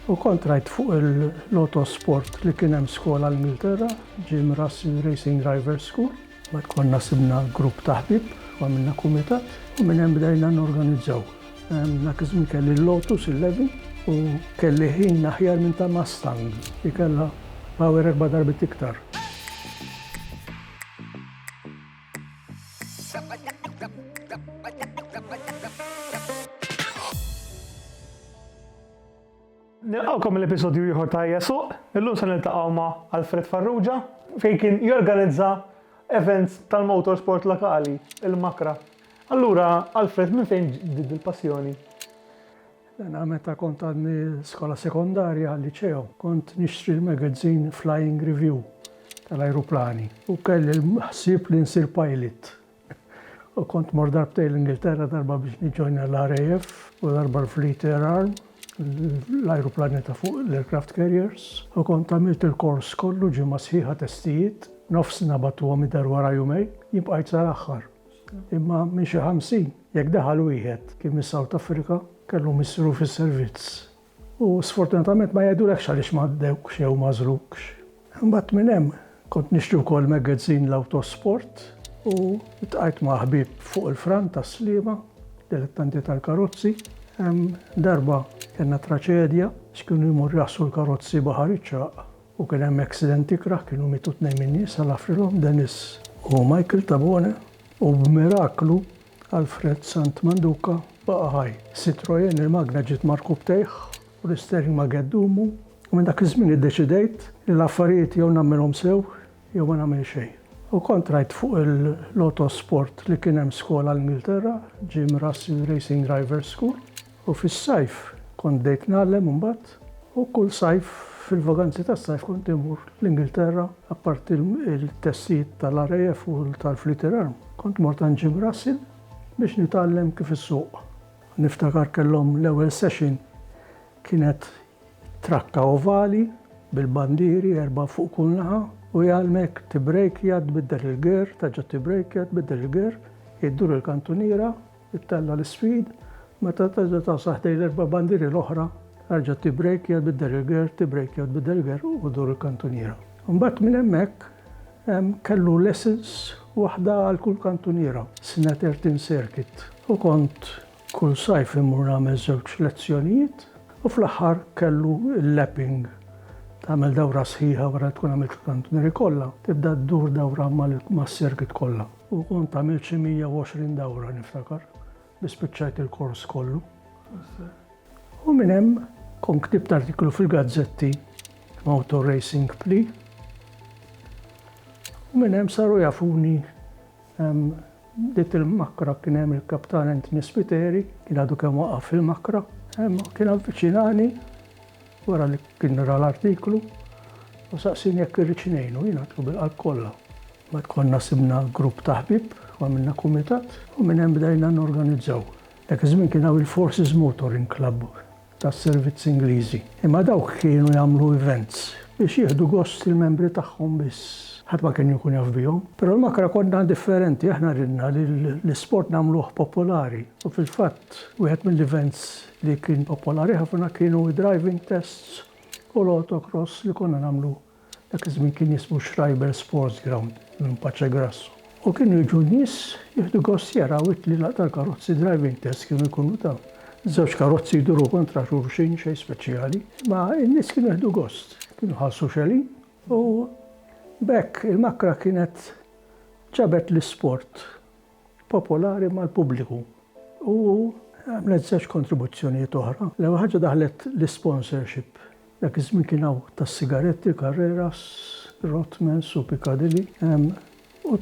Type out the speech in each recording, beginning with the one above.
U kont rajt fuq il-Lotto Sport li kien hemm skola l-Ingilterra, Jim Russell Racing Driver School. Mbagħad konna sibna grupp ta' ħbieb u għamilna kumitat u minn hemm bdejna norganizzaw. Dak iż-żmien kelli l-Lotus 11 u kelli ħin aħjar minn ta' Mustang li kellha power erba' darbiet iktar. Nilqgħukom għal episodju ieħor ta' Ejja Suq. Illum se niltaqgħu ma' Alfred Farrugia fejn kien jorganizza events tal-motorsport lokali, il-Makra. Allura, Alfred, minn fejn ġdiet il-passjoni? Jena meta kont għadni skola sekondarja għal liceo, kont nixtri l-magazine Flying Review tal-ajruplani u kelli l-ħsieb li nsir pilot. U kont mort darbtejn l-Ingilterra, darba biex niġġojna l-RAF u darba l-Fleet Air Arm, l-ajruplani ta' fuq l-aircraft carriers, u kont għamilt il-kors kollu, ġimgħa sħiħa testijiet, nofs nabatuhom id-dar wara jumejn, jien bqajt sal-aħħar. Imma minn xi ħamsin, jekk daħal wieħed, kien mis-South Africa, kellu missru fis-servizz. U sfortunatament ma jgħidulekx għaliex m'għaddewkx jew m'għażlukx. Imbagħad minn hemm kont nixtri wkoll magazine l-Autosport u ltqajt ma' ħbieb fuq il-Fran tas-Sliema, dilettanti tal-karozzi. Darba kellna traċedja għax kienu jmorru jgħassru l-karozzi Baħar iċ-Ċagħaq u kien hemm accident ikrah, kienu mietu tnejn min-nies, Alla jafrilhom, Denis u Michael Tabone, u b'miraklu Alfred Sant Manduca baqa' ħaj. Citroën, il-magna ġiet markub tejh u l-istering ma gett dumu u minn dak iż-żmien iddeċidejt li l-affarijiet jew nagħmilhom sew jew ma nagħmel xejn. U kont rajt fuq il-Lotosport li kien hemm skola l-Ingilterra, Jim Russell Racing Drivers School. U fis-sajf kont bdejt ngħallem imbagħad u kull sajf fil-vaganzi tas-sajf kont immur l-Ingilterra apparti l-testijiet tal-RAF u tal-Fleeter Arm kont mort għand Jim Russell biex nitgħallem kif issuq. Niftakar kellhom l-ewwel session kienet trakka ovali bil-bandieri erbgħa fuq kull naħa u jgħallmek tibbrejkja tbiddel il-gear terġa' tibbrejkja tbiddel il-gear iddur il-kantuniera Ittella' l-isfid, meta terġa' tagħsel ħdejn l-erba' bandieri l-oħra, erġa' tibbrejkja bid-derriger, tibbrejkja bid-derriger u dur il-kantuniera. Imbagħad minn hemmhekk hemm kellu lessons, waħda għal kull kantuniera, sna tertin circuit, u kont kull sajf immur nagħmel żewġ lezzjonijiet u fl-aħħar kellu l-lapping, tagħmel dawra sħiħa wara li tkun għamilt il-kantunieri kollha, tibda ddur dawra mas-circuit kollha. U kont għamilt xi 120 dawra niftakar, li spiċċajt il-kors kollu. U minn hemm kont ktibt artiklu fil-gazzetti Motor Racing Pli. U minn hemm saru jafuni dit il-makra kien hemm il-kaptan Anthony Spiteri, kien għadu kemm waqaf fil-makra, kien avviċinani Wara li kien ra l-artiklu, hu saqsieni jekk irridx ngħinu. Jien għedtlu bil-qalb kollha. Mbagħad konna sibna grupp ta' ħbieb u għamilna kumitat u minn hemm bdejna norganizzaw. Dak iż-żmien kien hawn il-Forces Motoring Club tas-servizzi Ingliżi, imma dawk kienu jagħmlu events biex jieħdu gost il-membri tagħhom biss. Ħadd ma kien jkun jaf bihom. Però l-Makra konna differenti, aħna ridna li l-isport nagħmluh popolari u fil-fatt wieħed mill-events Li kien popolari ħafna kienu d-driving tests u l-autocross li konna nagħmlu, dak iż-żmien kien jismu Schreiber Sports Ground, minn Paċegrasso. U kienu jiġu n-nies jieħdu gost jaraw it-tlielaq tal-karozzi, driving tests kienu jkunu ta' żewġ karozzi jduru kontra xulxin, xejn speċjali, imma n-nies kienu jieħdu gost, kienu jħallsu xelin u b'hekk il-Makra kienet ġabet l-isport. popolari mal-pubbliku u għamlet żewġ kontribuzzjonijiet oħra. L-ewwel ħaġa daħlet l-isponsorship. Dak iż-żmien kien hawn tas-sigaretti, Carreras, Rothmans u Piccadilly, u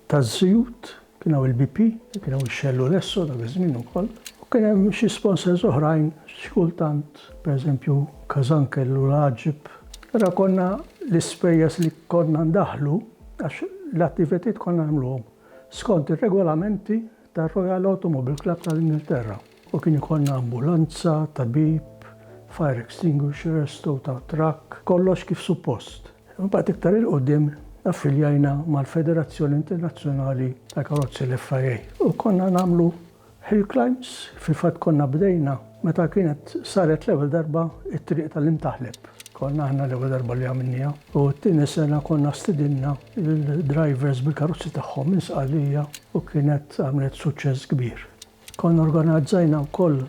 taż-żjut kien hawn il-BP, kien hawn ix-Shell u l-Esso dak iż-żmien ukoll, u kien hemm xi sponsors oħrajn xi kultant, pereżempju Casankel u l-Għaġib. Allura konna l-ispejjeż li konna ndaħħlu Għax l-attivitajiet konna nagħmluhom skont ir-regolamenti tar-Royal Automobile Club tal-Ingilterra u kien ikollna ambulanza, tabib, fire extinguishers, tow ta' trakk, kollox kif suppost. Imbagħad iktar 'il quddiem affiljajna mal-Federazzjoni Internazzjonali tal-Karozzi l-FIA u konna nagħmlu Hill Climbs fil-fatt konna bdejna meta kienet saret l-ewwel darba t-triq tal-Imtaħleb. Konna aħna l-ewwel darba li għamilniha u t-tieni sena konna stidinna lill-drivers bil-karozzi tagħhom minn Sqallija u kienet għamlet suċċess kbir. Konna organizzajna wkoll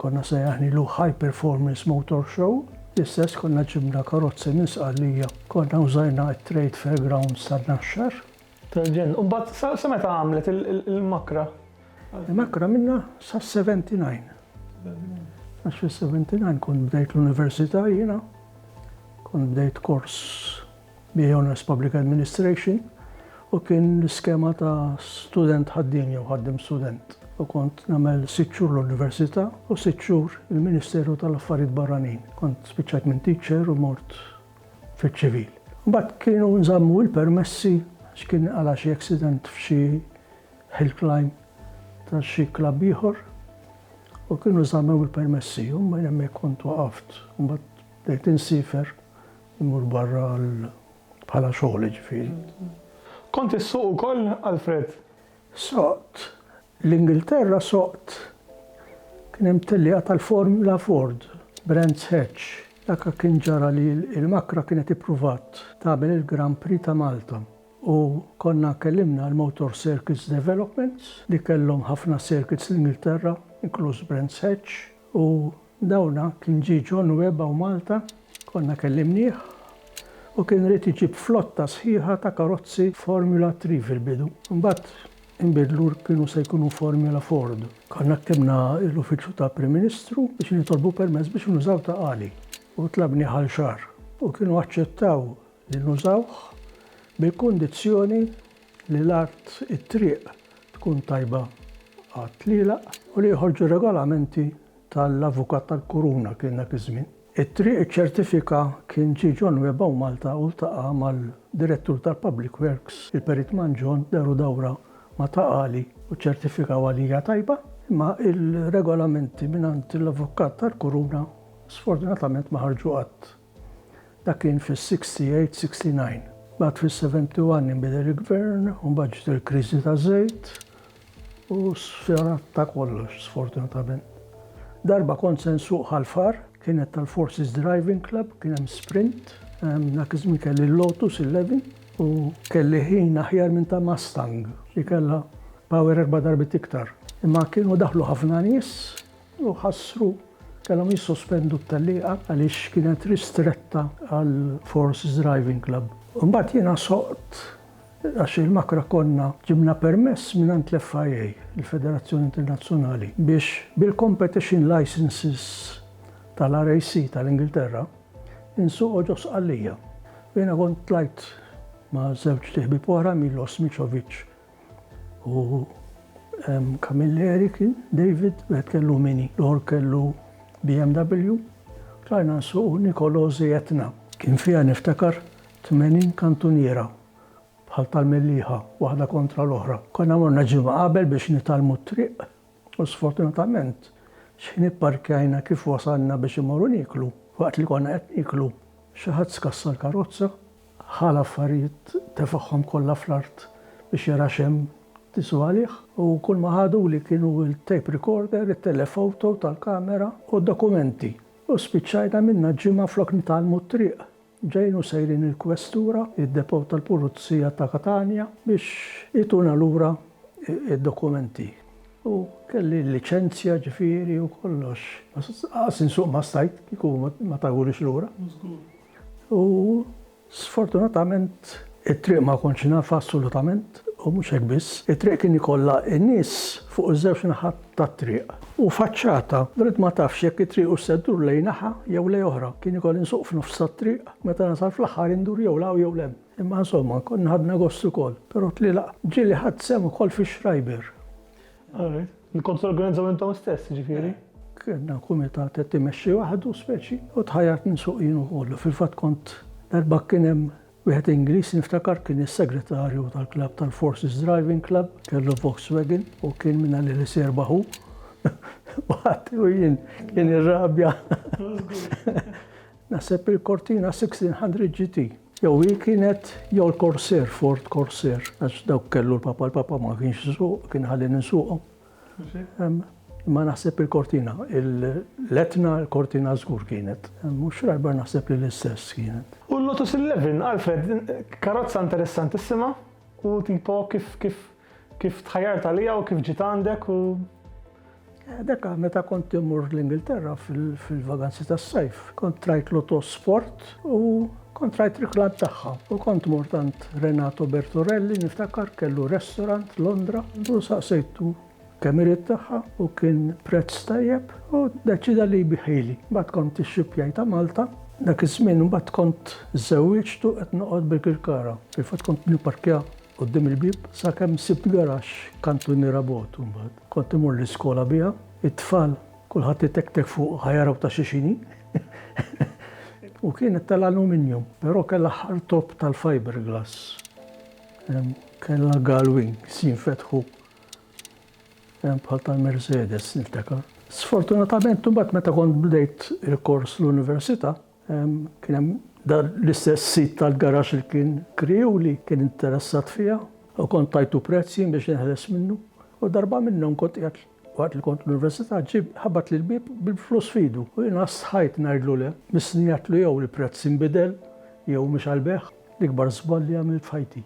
konna sejjaħnilu High Performance Motor Show, l-istess konna ġibna karozzi minn Sqallija, konna użajna t-Trade Fair Grounds tan-Naxxar Tal-ġenn. U mbagħad sa, sa meta għamlet il-makra? Il-makra minna sa 79. Għax fil-79 kont bdejt l-università jiena, kont bdejt kors bi Honors Public Administration u kien l-iskema ta' student ħaddin jew ħaddim student. U kont namel sitxur l-Università u sitxur il-Ministeru tal-Affarijiet Barranin. Kont spiċċajt minn teacher u mort fiċ-ċivil. Mbagħad kienu nżammu l-permessi għax kien għala xi accident f'xi hill climb ta' xi klabb ieħor u kienu żammew il-permessi u minn hemmhekk kont waqaft. Mbagħad bdejt insifer immur barra bħala xogħol ġifieri. Kont issuq ukoll, Alfred? Soqt. L-Ingilterra soqt. Kien hemm tellieqa tal-Formula Ford, Brands Hatch. Dak kien ġara li l-Macra kienet ippruvat tagħmel il-Grand Prix ta' Malta u konna kellimna għal Motor Circuits Developments li kellhom ħafna circuits l-Ingilterra, inkluż Brands Hatch u Dawna kien ġie John Webb hawn Malta, konna kellimnieh, u kien ried iġib flotta sħiħa ta' karozzi Formula Three fil-bidu. Imbagħad inbidlu u kienu se jkunu Formula Ford. Konna ktibna l-Uffiċċju ta' Prim Ministru biex nitolbu permess biex nużaw ta' Ali u tlabnieh għal xahar u kienu aċċettaw li nużawh bil-kundizzjoni li l-art, it-triq, tkun tajba għat-tlielaq u li joħorġu regolamenti tal-Avukat tal-Kuruna kien dak iż-żmien. It-triq iċċertifika kien ġie John Webb hawn Malta u ltaqa' mal-Direttur tal-Public Works, il-Perit Mangion, deru dawra ma' Ta' Qali u ċċertifikaw għalija tajba, imma il-regolamenti mingħand l-Avukat tal-Kuruna sfortunatament ma ħarġu qatt. Dak kien fis-68, 69. Mbagħad fis-71 inbidel il-Gvern u mbagħad ġiet il-kriżi taż-żejt u sfjanat ta' kollox sfortunatament. Darba kont se nsuq Ħal-Far, kienet tal-Forces Driving Club, kien hemm sprint, dak iż-żmien kelli l-Lotus 11 u kelli ħin aħjar minn ta' Mustang li kellha power erba' darbiet iktar. Imma kienu daħlu ħafna nies u ħassru, kellhom jissospendu t-tellieqa għaliex kienet ristretta għal Force Driving Club. Imbagħad jiena soqt għax il-Makra konna ġibna permess mingħand l-FIA, il-Federazzjoni Internazzjonali, biex bil-competition licences tal-RAC tal-Ingilterra insuqu ġo Sqallija. Jiena kont tlajt ma' żewġt iħbieb oħra, Milos Micovic U hemm kamilleri kien David, wieħed kellu Mini, l-ieħor kellu BMW. Tlajna nsuqu Niccolò Zietna. Kien fiha niftakar tmenin kantuniera bħal tal-Mellieħa, waħda kontra l-oħra. Konna morna ġimgħa qabel biex nitgħallmu t-triq U sfortunatament, x'ħin ipparkjajna kif wasalna biex immorru nieklu, waqt li konna qed nieklu, xi ħadd skassa l-karozza, ħa l-affarijiet tefagħhom kollha fl-art biex jara x'hemm tisu għalih, u kull ma ħaduli kienu il-tape recorder, it-telephoto tal-kamera u d-dokumenti. U spiċċajna minnha ġimgħa flok nitgħallmu t-triq Ġejjin u sejrin il-Kwestura, id-Depot tal-Pulizija ta' Katanja biex jtuna lura d-dokumenti. U kelli l-liċenzja ġifieri u kollox. Lanqas insuq ma stajt kieku ma tawhulix lura. U sfortunatament it-triq ma kontx nafha assolutament. U mhux hekk biss, it-triq kien ikollha n-nies fuq iż-żewġ naħat tat-triq. U faċċata, bdejt ma tafx jekk it-triq hux se ddur lejn naħa jew lejn oħra. Kien ikoll insuq f'nofs tat-triq, meta nasal fl-aħħar indur jew 'l hawn jew 'l hemm. Imma insomma, konna ħadna gost ukoll. Però tlielaq ġieli ħadt sehem ukoll fix-Schreiber. Li kont torganizzaw intom stess, jiġifieri? Kellna kumitat qed imexxi waħdu speċi u tħajjart ninsuq jien ukoll. Fil-fatt kont, darba kien hemm Wieħed Ingliż niftakar kien is-segretarju tal-klabb tal-Forces Driving Club, kellu Volkswagen u kien minn għalih li se jirbaħ hu. Waħti u jien kien irrabja. Naħseb il-Cortina 1600 GT. Jew hi kienet jew l-Corsair, Ford Corsair, għax dawk kellu l-papa, l-papa ma kienx suq, kien ħalli ninsuqhom. Imma naħseb il-kortina, l-etna, il-kortina żgur kienet. U Schreiber naħseb li l-istess kienet. U l-Lotus 11, Alfred, karozza interessantissima u tipo kif tħajjart għaliha u kif ġiet għandek u. Dekka meta kont immur l-Ingilterra fil-vaganzi tas-sajf, kont rajt Lotus Sport. U kont rajt riklam tagħha u kont mort għand Renato Bertorelli niftakar kellu restaurant Londra u saqsejtu kemm irid tagħha u kien prezz tajjeb u deċida li jbiħili. Mbagħad kont ix-xipjaj ta' Malta dak iż-żmien imbagħad kont żewwiġt u qed noqgħod bil-Kirkara. Fil-fatt kont nipparkja quddiem il-bieb sakemm sibt garaxx kantuniera bogħod imbagħad. Kont imur l-iskola biha, it-tfal Kulħadd itektek fuq ħa jaraw ta' x'inhi. U kienet tal-aluminium, però kellha ħartob tal-fiberglass. Kellha galwin si jinfetħu bħal tal-Mercedes niftakar. Sfortunatament imbagħad meta kont bdejt il-kors l-università, kien hemm dan l-istess sid tal-garax li kien kriegħu li kien interessat fiha u kont tajtu prezz jien biex neħles minnu. U darba minnhom kont qiegħed Waqt li kont l-università ġie ħabat li l-bieb bil-flus f'idu u jiena stħajt ngħidlu le. Missni għedtlu jew il-prezz inbidel jew mhux għall-bejgħ. L-ikbar żball li għamilt f'ħajti.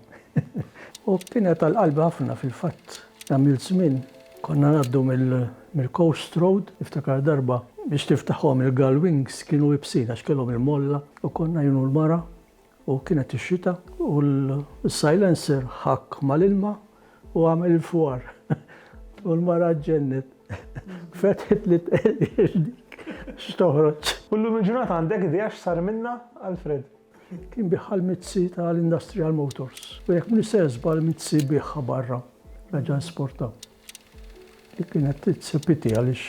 U kienet għal qalbi ħafna fil-fatt. Għamilt żmien konna ngħaddu mill-Coast Road, niftakar darba biex tiftaħhom il-Gull Wings kienu ibsin għax kellhom il-molla u konna jien u l-mara, U kienet ix-xita u l-silencer ħakk mal-ilma u għamel il-fwar. U l-mara ġġennet. Fetħet li tqerqir dik x'toħroġ. U llum il-ġurnata għandek idea x'sar minnha, Alfred? Kien biegħha l-mizzi tal-Industrial Motors. U jekk m'iniex ser żball mizzi biegħha barra. Reġa' esporta. Dik kienet titse piti għaliex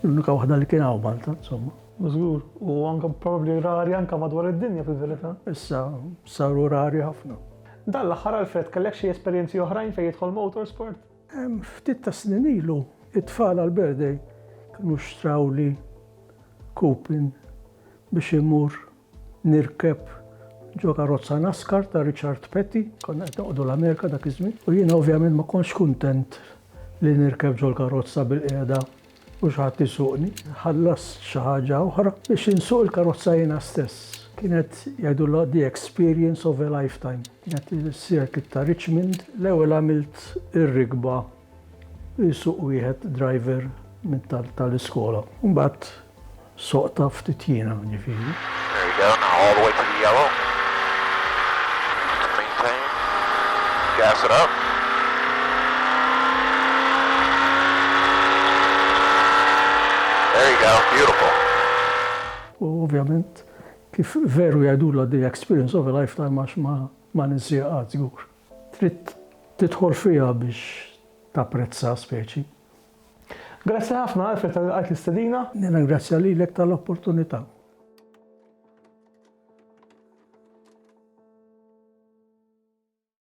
l-unika waħda li kien hawn Malta, insomma. Żgur, u anke probabbli rari anke madwar id-dinja fil-verità. Issa saru rari ħafna. Dan l-aħħar Alfred kellek xi esperjenzi oħrajn fejn jidħol motorsport? Ftit tas-snin ilu, it-tfal għall-birthday kienu xtrawli kupin biex immur nirkeb ġo karozza NASCAR ta' Richard Petty, konna qed noqogħdu l-Amerika dak iż-żmien, u jiena ovvjament ma kontx kuntent li nirkeb ġol-karozza bilqiegħda u xi ħadd isuqni. Ħallast xi ħaġa oħra biex insuq il-karozza jiena stess. Kienet jgħidulha the experience of a lifetime. Kienet is-circuit ta' Richmond, l-ewwel għamilt ir-rikba Isuq wieħed driver minn tal-iskola. Mbagħad soqta ftit jiena, ġifieri. There you go, now all the way to the yellow. Maintain. Gas it up. There you go, beautiful. U ovvjament kif veru jgħidulha the experience of a lifetime għax ma ma ninsieha qatt żgur. Trid tidħol fiha biex tapprezza speċi. Grazzi ħafna Alfred talli lqajt l-istedina. Nirringrazzja lilek tal-opportunità.